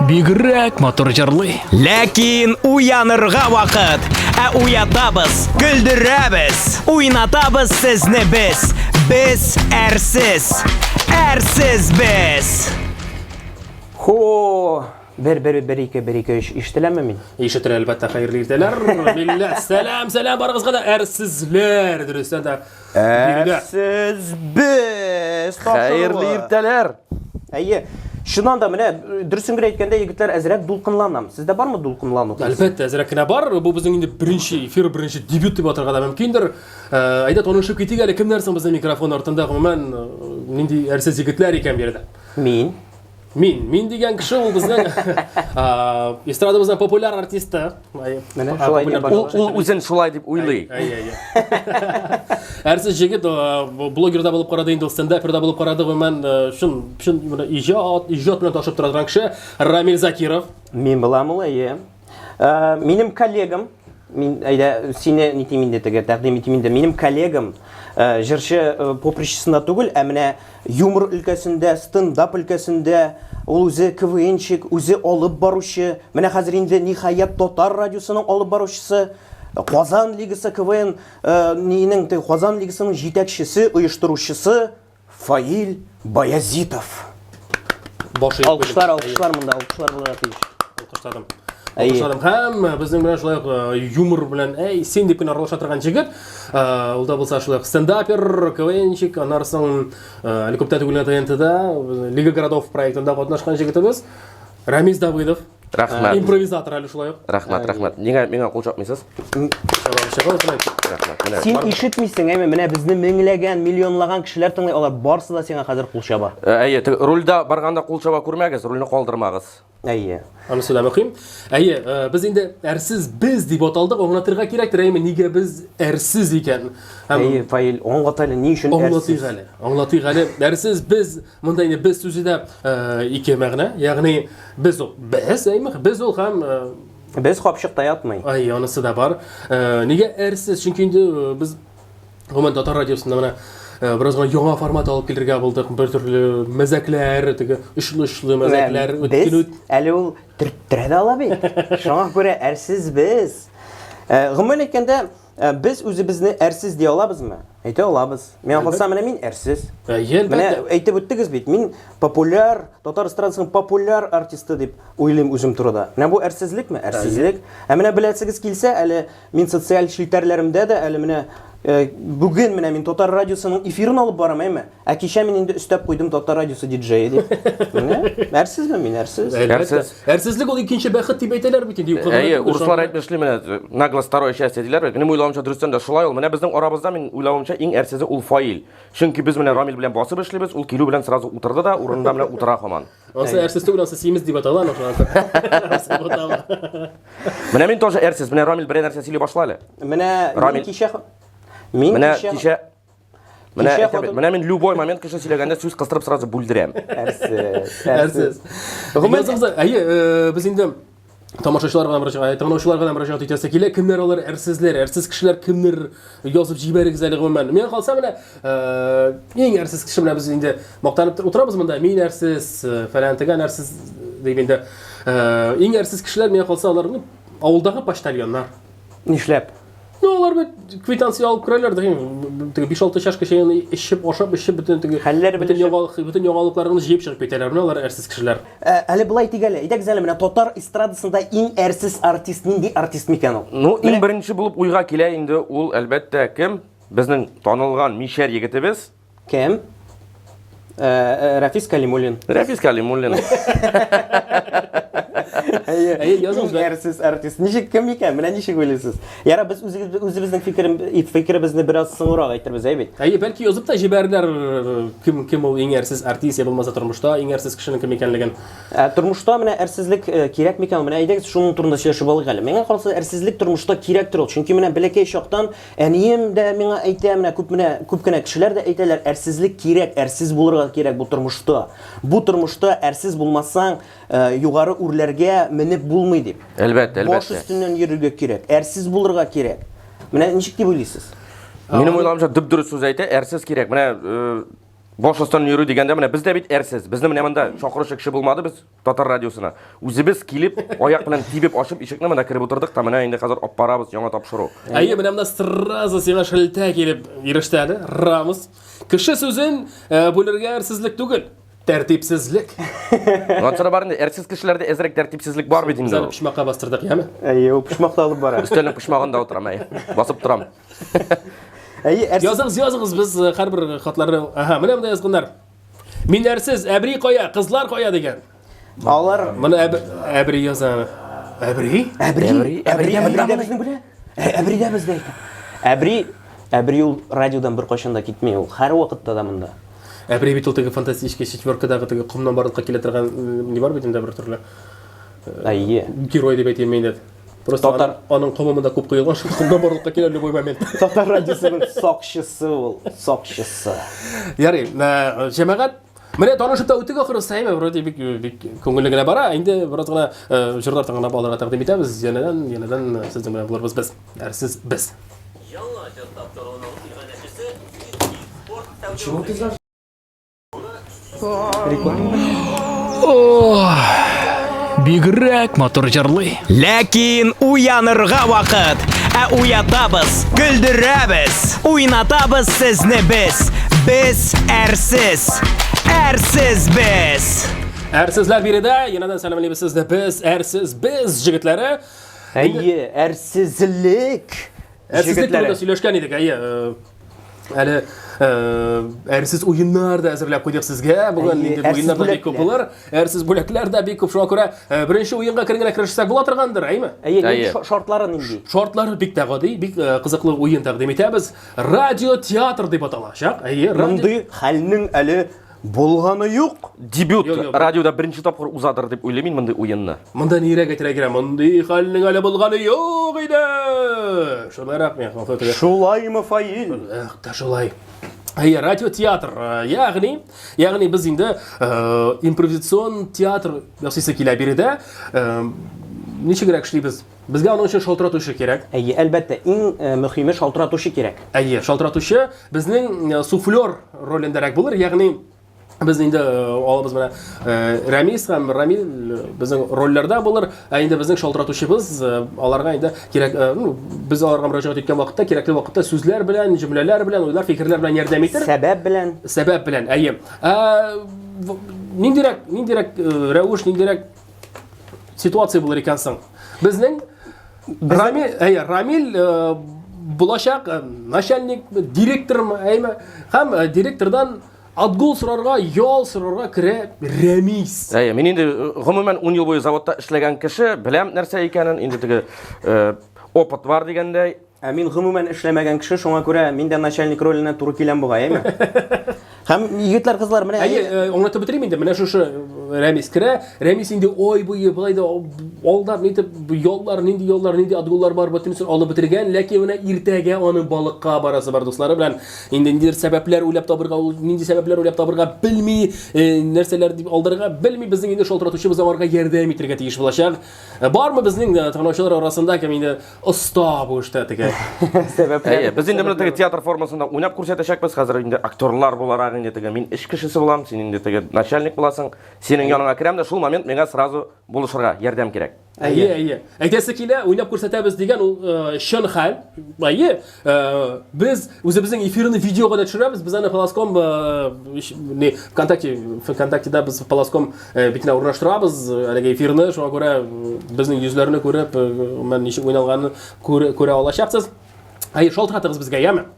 Бигрәк матур җырлый. Ләкин уянырга вакыт. Ә уятабыз, көлдерәбез, уйнатабыз сезне без. Без әрсез. Әрсез без. Хо! Бер бер бер ике бер ике өч ишетеләме мин? Ишетер әлбәттә хәерле иртәләр. Милләт, сәлам, сәлам барыгызга да әрсезләр. Дөрестән дә Ә сез без Хәерле иртәләр. Әйе. Шуннан да менә э, дөресен генә әйткәндә, егетләр, әзрәк дулкынланам. Сездә бармы дулкынлану? Әлбәттә, әзрәк кенә бар. Бу безнең инде беренче эфир, беренче дебют дип атарга да мөмкиндер. Э, әйдә танышып китик әле, кемнәр соң безнең микрофон артында, гомумән, э, нинди әрсез егетләр икән бу Мин. Мин, мин дигән кеше ул безнең эстрадабызның популяр артисты. Менә шулай дип ул үзен шулай дип уйлый. Әрсез җегет блогерда булып карады инде, стендаперда булып карады, гомумән шын шын иҗат, иҗат белән ташып тора торган кеше Рамил Закиров. Мин буламы, әйе. Э, минем коллегам мин әйдә сине нитим инде теге тәкъдим итим инде минем коллегам э, җырчы э, попричесында түгел ә менә юмор өлкәсендә стендап өлкәсендә ул үзе квнчик үзе алып баручы менә хәзер инде ниһаять татар радиосының алып баручысы казан лигасы квн э, нинең теге казан лигасының җитәкчесе оештыручысы Фаил Баязитов. Баш иеп Алкышлар, куйдым. алкышлар монда, алкышлар булырга тиеш. Алкышларым. Әйе. Алкышларым һәм э, безнең белән шулай ук э, юмор белән әй син дип кенә аралаша торган җегет. Э, Ул да булса шулай ук стендапер, КВНщик, аннары соң э, әле күптән түгел генә ТНТда э, Лига городов проектында катнашкан җегетебез Рамис Давыдов. Рәхмәт. Э, импровизатор әле шулай ук. Рәхмәт, э, рәхмәт. Нигә миңа кул чапмыйсыз? Син ишетмисең, әйме, менә безне меңләгән, миллионлаган кешеләр тыңлый, алар барсы да сиңа хәзер кул чаба. Э, әйе, рульда барганда кул чаба күрмәгез, рульне калдырмагыз. Әйе. Аны сөйләп укыйм. Әйе, без инде әрсез без дип аталдык, аңлатырга кирәктер, әйме, нигә без әрсез икән? Әйе, фаил, аңлат әле, ни өчен әрсез? Аңлатыйк әле. Аңлатыйк әле. Әрсез без Монда инде без сүзе дә ике мәгънә, ягъни без ул без, әйме, без ул һәм без капчыкта ятмый. Ай, анысы да бар. Нигә әрсез? Чөнки инде без гомумән татар радиосында менә бераз гына яңа формат алып килергә булдык. Бер төрле мәзәкләр, теге очлы-очлы мәзәкләр үткән үт. Әле ул төрттерә дә ала бит. Шуңа күрә әрсез без. Гомумән әйткәндә, Ә без үзебезне әрсез ди алабызмы? Әйтә алабыз. Миңа калса, менә мин әрсез. Ә, менә әйтеп үттегез бит, мин популяр, татар эстрадасының популяр артисты дип уйлыйм үзем турыда. Менә бу әрсезлекме? Әрсезлек. Ә менә беләсегез килсә, әле мин социаль челтәрләремдә дә әле менә э, бүген менә мин татар радиосының эфирын алып барам, әйме? Ә кичә мин инде өстәп куйдым татар радиосы диджее дип. Менә, әрсезме мин, әрсез? Әрсез. Әрсезлек ул икенче бәхет дип әйтәләр бит инде. Әйе, урыслар әйтмешли менә, нагло второе счастье диләр бит. Минем уйлавымча дөрестән дә шулай ул. Менә безнең арабызда мин уйлавымча иң әрсезе ул Фаил. Чөнки без менә Рамил белән басып эшлибез, ул килү белән сразу утырды да, урынында менә утыра хаман. Ансы әрсез түгел, ансы симез дип атала аны шуңа. Менә мин тоже әрсез. Менә Рамил берәр нәрсә сөйли башла әле. Менә Рамил кичә Мин менә кичә Менә, Кичә әйтәм бит, хатын- менә мин любой момент кеше сөйләгәндә сүз кыстырып сразу бүлдерәм. Әрсез, Әрсез. Гомумән, Язымызда- әйе, э, без инде тамашачылар гына мөрәҗәгать, тыңлаучылар гына мөрәҗәгать итәсе килә. Кемнәр алар әрсезләр? Әрсез кешеләр кемнер? Язып җибәрегез әле гомумән. Миңа калса менә э, иң әрсез кеше менә без инде мактанып тор- утырабыз монда. Мин әрсез, э, фәлән тегән әрсез дип инде. Э, Иң әрсез кешеләр миңа калса алар ну, авылдагы почтальоннар. Нишләп? Ну, алар бит квитанция алып керәләр, дигән, теге 5-6 чашка чәен эчеп, ашап, эчеп, бөтен теге хәлләр бөтен яңалык, бөтен яңалыкларны җыеп чыгып китәләр, менә алар әрсез кешеләр. Ә, әле былай дик әле, әйдәк әле менә татар эстрадасында иң әрсез артист нинди артист микән ул? Ну, иң беренче булып уйга килә инде ул, әлбәттә, кем? Безнең танылган мишәр егетебез. Кем? Ә, ә, Рәфис Калимуллин. Рәфис Калимуллин. Әйе, Әйе, языңыз да. Әрсез артист. Ничек кем икән? Менә ничек уйлыйсыз? Яра без үзегез үзебезнең фикерем фикеребезне бераз соңрак әйтербез, әй бит. Әйе, бәлки язып та җибәрерләр, э, кем кем ул иң әрсез артист, я булмаса тормышта иң әрсез кешенең кем икәнлеген. Ә, тормышта менә әрсезлек э, кирәк микән? Менә әйдәгез шуның турында сөйләшеп алыйк әле. Миңа калса әрсезлек тормышта кирәктер ул. Чөнки менә бәләкәй чактан Әнием дә миңа әйтә, менә күп менә күп кенә кешеләр дә әйтәләр, әрсезлек кирәк, әрсез булырга кирәк бу тормышта. Бу тормышта әрсез булмасаң, э, югары үрләргә менеп булмый дип. Әлбәттә, әлбәттә. Баш өстеннән йөрергә кирәк, әрсез булырга кирәк. Менә ничек дип уйлыйсыз? Минем уйламча дөп дөрес сүз әйтә, әрсез кирәк. Менә э, баш астыннан йөрү дигәндә, менә без дә бит әрсез. Безне менә монда чакыручы кеше булмады, без Татар радиосына. Үзебез килеп, аяк белән тибеп ачып ишекне менә кереп утырдык та менә инде хәзер алып барабыз яңа тапшыру. Әйе, менә монда сразу сиңа шелтә килеп иреште әле. Рамус. Кеше сүзен э, бүлергә әрсезлек түгел. Тәртипсезлек. Ансара бар инде, әрсез кешеләрдә әзрәк тәртипсезлек бар бит Без инде. әле ул. почмакка бастырдык, яме? Әйе, ул почмакта алып бара. Өстәлнең почмагында утырам, әй. Басып торам. Әйе, әрсез Языгыз, языгыз, без э, һәрбер хатларны... Ага, менә монда язганнар. Мин әрсез, әбри кая, кызлар кая дигән. Алар Моны әб... әбри яза. Әбри? Әбри, әбри, әбри, әбри, безне белә. Әбри дә бездә икән. Әбри, әбри ул радиодан бер кайчан да китми, ул һәр вакытта да монда. Әбри бит ул теге фантастический четверкадагы теге комнан барлыкка килә торган не бар бит инде бер төрле. Әйе. Герой дип әйтәм мин дә. Просто Татар... аның комымы да күп коелган, шул комда барлыкка килә любой момент. Татар радиосының сакчысы ул, сакчысы. Ярый, э, җәмәгать Менә танышып та үтик ахыры сәйме, вроде бик бик күңелле генә бара. Инде бераз гына э, җырлар тыңлап алырга тәкъдим итәбез. Янәдән, янәдән э, сезнең белән булырбыз без. Әрсез без. Яңа җыр тапшыруының иганәчесе Почему ты Бигрәк матур җырлый. Ләкин уянырга вакыт. Ә уятабыз, көлдерәбез, уйнатабыз сезне без. Без әрсез. Әрсез без. Әрсезләр биредә, янәдән сәламлибез сезне без, әрсез без җегетләре. Әйе, әрсезлек Ә сезнең Җегетләре. турында сөйләшкән идек, әйе. э, Әле э, әрсез уеннар да әзерләп куйдык сезгә. Бүген Әйе, инде бу әрсез уеннар да бик күп бүләкләр. булыр. Әрсез бүләкләр дә бик күп. Шуңа күрә э, беренче уенга кер генә керешсәк була торгандыр, әйме? Әйе, Әйе. нинди шо- шартлары нинди? Шортлары бик тә гади, бик э, кызыклы уен тәкъдим итәбез. Радио театр дип аталачак. Әйе, радио Мондый хәлнең әле Булганы юк. Дебют Юк, юк. радиода беренче тапкыр узадыр дип уйлыйм мин мондый уенны. Монда нирәк әйтергә кирәк? Мондый хәлнең әле булганы юк иде. Шулай рәхмәт. Фотога. Шулаймы, Фаил? Эх, та шулай. Әйе, радиотеатр. Э, Ягъни, ягъни без инде э, импровизацион театр ясыйсы килә биредә. Э, Ничегрәк эшлибез? Безгә аның өчен шалтыратучы кирәк. Әйе, әлбәттә, иң э, мөһиме шалтыратучы кирәк. Әйе, шалтыратучы безнең э, суфлер ролендәрәк булыр, ягъни без инде э, алабыз менә Рәмис һәм Рамил безнең рольләрдә булыр, ә инде безнең шалтыратучыбыз аларга инде кирәк, ну, без аларга мөрәҗәгать иткән вакытта, кирәкле вакытта сүзләр белән, җөмләләр белән, уйлар, фикерләр белән ярдәм итер. Сәбәп белән. Сәбәп белән, әйе. Ә ниндирәк, ниндирәк рәвеш, ниндирәк ситуация булыр икән соң безнең рамил әйе рамил э, булачак э, начальник директормы әйме һәм э, директордан отгул сорарга ял сорарга керә рәмис әйе мин инде гомумән ун ел буе заводта эшләгән кеше беләм нәрсә икәнен инде теге опыт бар дигәндәй Ә мин гомумән эшләмәгән кеше, шуңа күрә мин дә начальник роленә туры киләм бугай, әйме? Һәм егетләр, кызлар, менә Әйе, э, аңлатып бетерим инде. Менә шушы Рәмис керә. Рәмис инде ой буе былай да алдап нитеп яллар, нинди яллар, нинди отгуллар бар, бөтенесен алып бетергән. Ләкин менә иртәгә аның балыкка барасы бар дуслары белән. Инде ниндидер сәбәпләр уйлап табырга, ул нинди сәбәпләр уйлап табырга белми, э, нәрсәләр дип алдырырга белми. Безнең инде шалтыратучыбыз аңарга ярдәм итәргә тиеш булачак. Э, Бармы безнең э, таныучылар арасында кем инде Оста бу эштә теге. Әйе, без инде менә теге театр формасында уйнап күрсәтәчәкбез. Хәзер инде актерлар буларак инде теге мин эш кешесе булам, син инде теге начальник буласың. Синең яныңа керәм дә шул момент миңа сразу булышырга ярдәм кирәк. Әйе, әйе. Әйтәсе килә, уйнап күрсәтәбез дигән ул э, чын хәл. Әйе, Э, без үзебезнең эфирны видеога да төшерәбез без аны полоском э, не вконтакте вконтактеда без полоском э, битенә урнаштырабыз әлеге эфирны шуңа күрә безнең йөзләрне күреп мен ничек уйналганын күрә алачаксыз әйе шалтыратыгыз безгә яме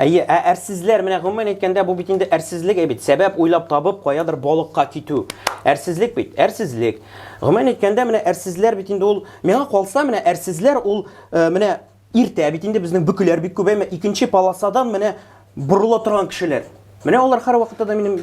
Әйе, ә әрсезләр, менә гомумән әйткәндә, бу бит инде әрсезлек бит. Сәбәп уйлап табып, каядыр балыкка китү. Әрсезлек бит, әрсезлек. Гомумән әйткәндә, менә әрсезләр бит инде ул, миңа калса, менә әрсезләр ул, менә Иртә бит инде безнең бөкеләр бик күп, әмма икенче полосадан менә борыла торган кешеләр. Менә алар һәр вакытта да минем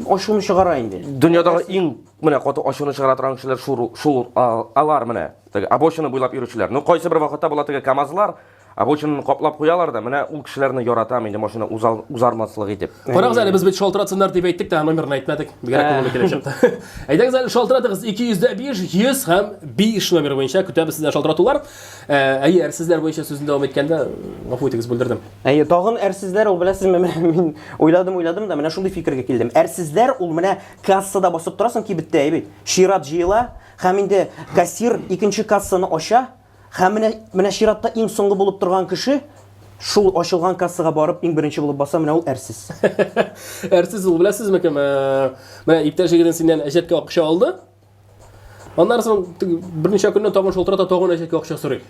ачуны чыгара инде. Дөньядагы иң менә каты ачуны чыгара торган кешеләр шул шул алар менә. Теге обочина буйлап йөрүчеләр. Ну кайсы бер вакытта була теге КАМАЗлар обочинаны каплап куялар да, менә ул кешеләрне яратам инде машина узал, узармаслык итеп. Карагыз әле, без бит шалтыратсыннар дип әйттек тә, номерны әйтмәдек. Бигрәк күңелле килеп чыкты. Әйдәгез әле шалтыратыгыз 205 100 һәм 5 номер буенча көтәбез сездән шалтыратулар. Ә, әйе, әрсезләр буенча сүзне дәвам иткәндә, гафу итегез, бүлдердем. Әйе, тагын әрсезләр ул беләсезме, менә мин уйладым, уйладым да менә шундый фикергә килдем. Әрсезләр ул менә кассада басып торасың кибеттә, әйбит. Чират җыела һәм инде кассир икенче кассаны ача һәм менә менә чиратта иң соңгы булып торган кеше шул ачылган кассага барып иң беренче булып баса, менә ул әрсез. Әрсез ул беләсезме кем? Ә, Менә иптәш егетен синнән әҗәткә акча алды. Аннан соң берничә көннән тагын шылтырата, тагын әшәке акча сорый.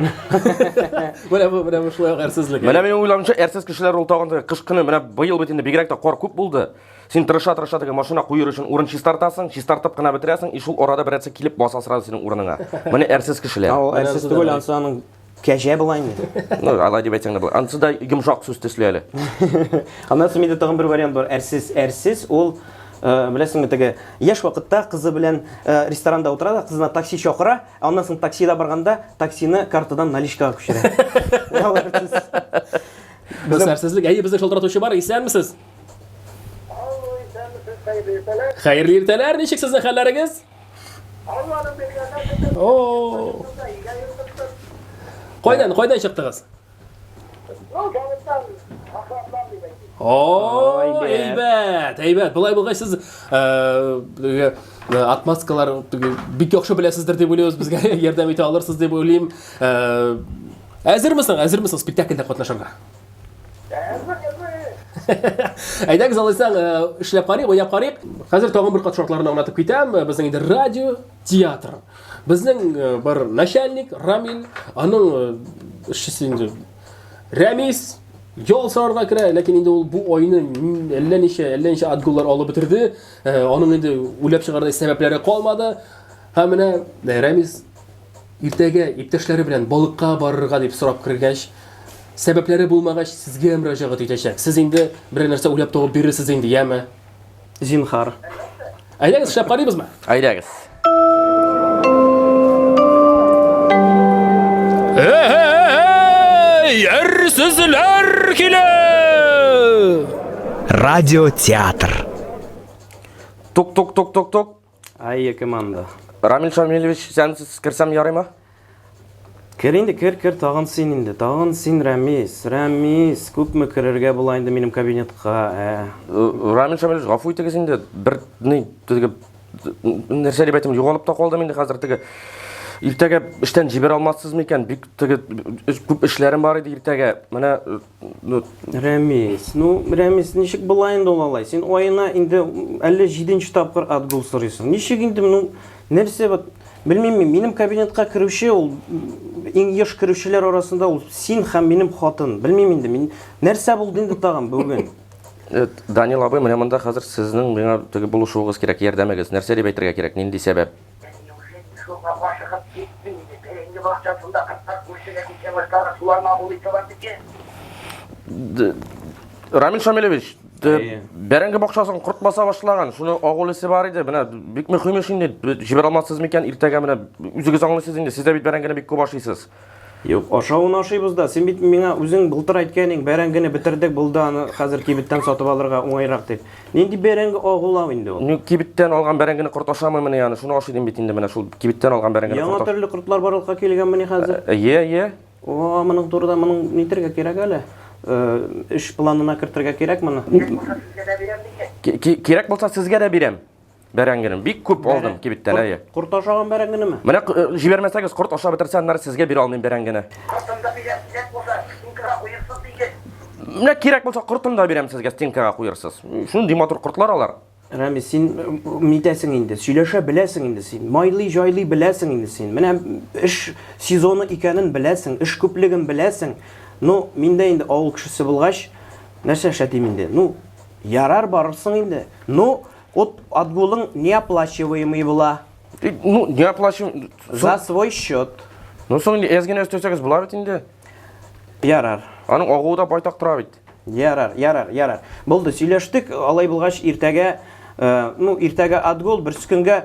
Менә бу менә бу шулай ук әрсезлек. Менә минем уйлавымча, әрсез кешеләр ул тагын да кыш көне менә быел бит инде бигрәк тә кар күп булды. Син тырыша-тырыша теге машина куер өчен урын чистартасың, чистартып кына бетерәсең, и шул арада берәрсе килеп баса сразу синең урыныңа. Менә әрсез кешеләр. Ул әрсез түгел, ансы аның Кәҗә була инде. Ну, алай дип әйтсәң дә була. Анысы да йомшак сүз төсле әле. Аннан соң миндә тагын бер вариант бар. Әрсез, әрсез ул э, беләсеңме теге яшь вакытта кызы белән э, ресторанда утыра да, кызына такси чакыра, аннан соң таксида барганда таксины картадан наличкага күчерә. Ул әрсез. Без әрсезлек. Әйе, безне шалтыратучы бар. Исәнмесез? Алло, исәнмесез, хәерле иртәләр. Хәерле иртәләр. Ничек сезнең хәлләрегез? Кайдан, кайдан чыктыгыз? Ой, әйбәт, әйбәт. Болай булгач сез э, отмазкалар бик яхшы беләсездер дип уйлыйбыз, безгә ярдәм итә алырсыз дип уйлыйм. Э, әзермесең, әзермесең спектакльдә катнашырга? Әйдәгез алайсаң, э, эшләп карыйк, уйнап карыйк. Хәзер тагын бер кат шартларны аңлатып китәм. Э, безнең инде радио, театр. Безнең э, бер начальник Рамил, аның эшчесе инде Рәмис ял сарарга керә, ләкин инде ул бу айны әллә ничә, әллә ничә отгуллар алып бетерде. Аның инде үләп чыгардай сәбәпләре калмады. Һәм менә Рәмис Иртәгә иптәшләре белән балыкка барырга дип сорап кергәч, сәбәпләре булмагач, сезгә мөрәҗәгать итәчәк. Сез инде берәр нәрсә уйлап табып бирерсез инде, яме? Зинһар. Әйдәгез, эшләп карыйбызмы? Әйдәгез. Эй, әрсезләр килә! Радиотеатр. Тук-тук-тук-тук-тук. Ай, яке манда. Рамил Шамилевич, сән керсәм ярыйма? Кер инде, кер, кер, тагын син инде, тагын син, Рәмис, Рәмис, күпме керергә була инде минем кабинетка, ә? Э, Рамил Шамилевич, гафу итегез инде, бер ни, теге, нәрсә дип әйтим, югалып та калдым инде хәзер теге. Иртәгә эштән җибәрә алмассызмы икән? Бик теге күп эшләрем бар иде иртәгә. Менә Ну, Рәмис, ну, Рәмис, ничек була инде ул алай? Син аена инде 57 тапкыр отгул сорыйсың. Ничек инде, ну, нәрсә вот, белмим мин, минем кабинетка керүче ул иң еш керүчеләр арасында ул син һәм минем хатын. Белмим инде, мин нәрсә булды инде тагын бүген? Э, Данил абый, менә монда хәзер сезнең миңа теге булышуыгыз кирәк, ярдәмегез. Нәрсә дип әйтергә кирәк, нинди сәбәп? Әнием хәтта суга ашыгып китми иде. Бәрәңге бакчасында кыртлар күршегә күчә башлады, суларны абулый торган икән. Рамил Шамилевич, бәрәңге бакчасын корт баса башлаган, шуны агулысы бар иде. Менә бик мөһим эш инде. Җибәрә алмассыз микән иртәгә менә үзегез аңлыйсыз инде. Сез дә бит бәрәңгене бик күп ашыйсыз. Юк, ашавын ашыйбыз да. Син бит миңа үзең былтыр әйткән идең, бәрәңгене бетердек, булды аны хәзер кибеттән сатып алырга уңайрак дип. Нинди бәрәңге агулау инде ул? Ну, кибеттән алган бәрәңгене корт ашамыймыни аны? Шуны ашый дим бит инде менә шул кибеттән алган бәрәңгене Яңа корт. төрле кортлар барлыкка килгәнмени хәзер? Йә, йә. О, моның турыда моның нитергә кирәк әле. Эш планына кертергә кирәк моны. Кирәк булса сезгә дә бирәм микән? Кирәк булса сезгә дә бирәм. Бәрәңгене бик күп алдым кибеттән, әйе. Корт ашаган бәрәңгенеме? Менә э, җибәрмәсәгез, корт ашап бетерсә, аннары сезгә бирә алмыйм бәрәңгене. Кортымда бирәм, кирәк булса, стенкага куерсыз диге. Менә кирәк булса, кортын да бирәм сезгә, стенкага куерсыз. Шундый матур кортлар алар. Рәмис, син митәсең инде, сөйләшә беләсең инде син. Майлый, җайлый беләсең инде син. Менә эш сезоны икәнен беләсең, эш күплеген беләсең. Ну, миндә инде авыл кешесе булгач, нәрсә эшләтим инде? Ну, ярар барырсың инде. Ну, От, отгулың неоплачиваемый була. Ну, не оплачиваем. За свой счет. Ну, соң инде әз генә өстәсәгез була бит инде. Ярар. Аның агуы да байтак тора бит. Ярар, ярар, ярар. Булды, сөйләштек. Алай булгач, иртәгә, э, ну, иртәгә отгул, берсекөнгә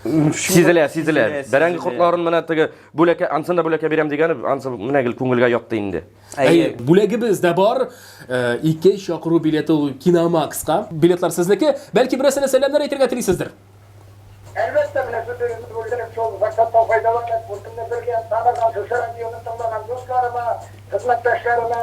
Сизелә, сизелә. Бәрәңге кортларын менә теге бүләкә, ансын да бүләкә бирәм дигән, ансы менә гел күңелгә ятты инде. Әйе, бүләгебез дә бар. Э, ике чакыру билеты ул Киномакска. Билетлар сезнеке. Бәлки берәрсенә сәламнәр әйтергә телисездер? Әлбәттә, менә сүзегезне бүлдереп, шул форсаттан файдаланып, күркемне бергә таныган, шушы радионы тыңлаган дусларыма, хезмәттәшләремә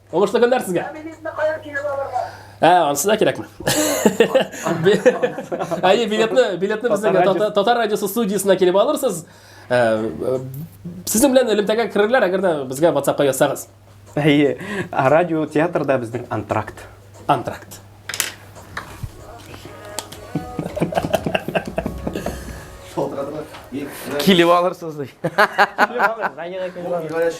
Уңышлы көннәр сезгә. Ә, ансы да кирәкме? Әйе, билетны, билетны безнең татар радиосы студиясенә килеп алырсыз. Э, э, Сезнең белән элемтәгә керерләр, әгәр дә безгә WhatsApp-ка язсагыз. Әйе, радио театрда безнең антракт. Антракт. Килеп алырсыз. Килеп алырсыз.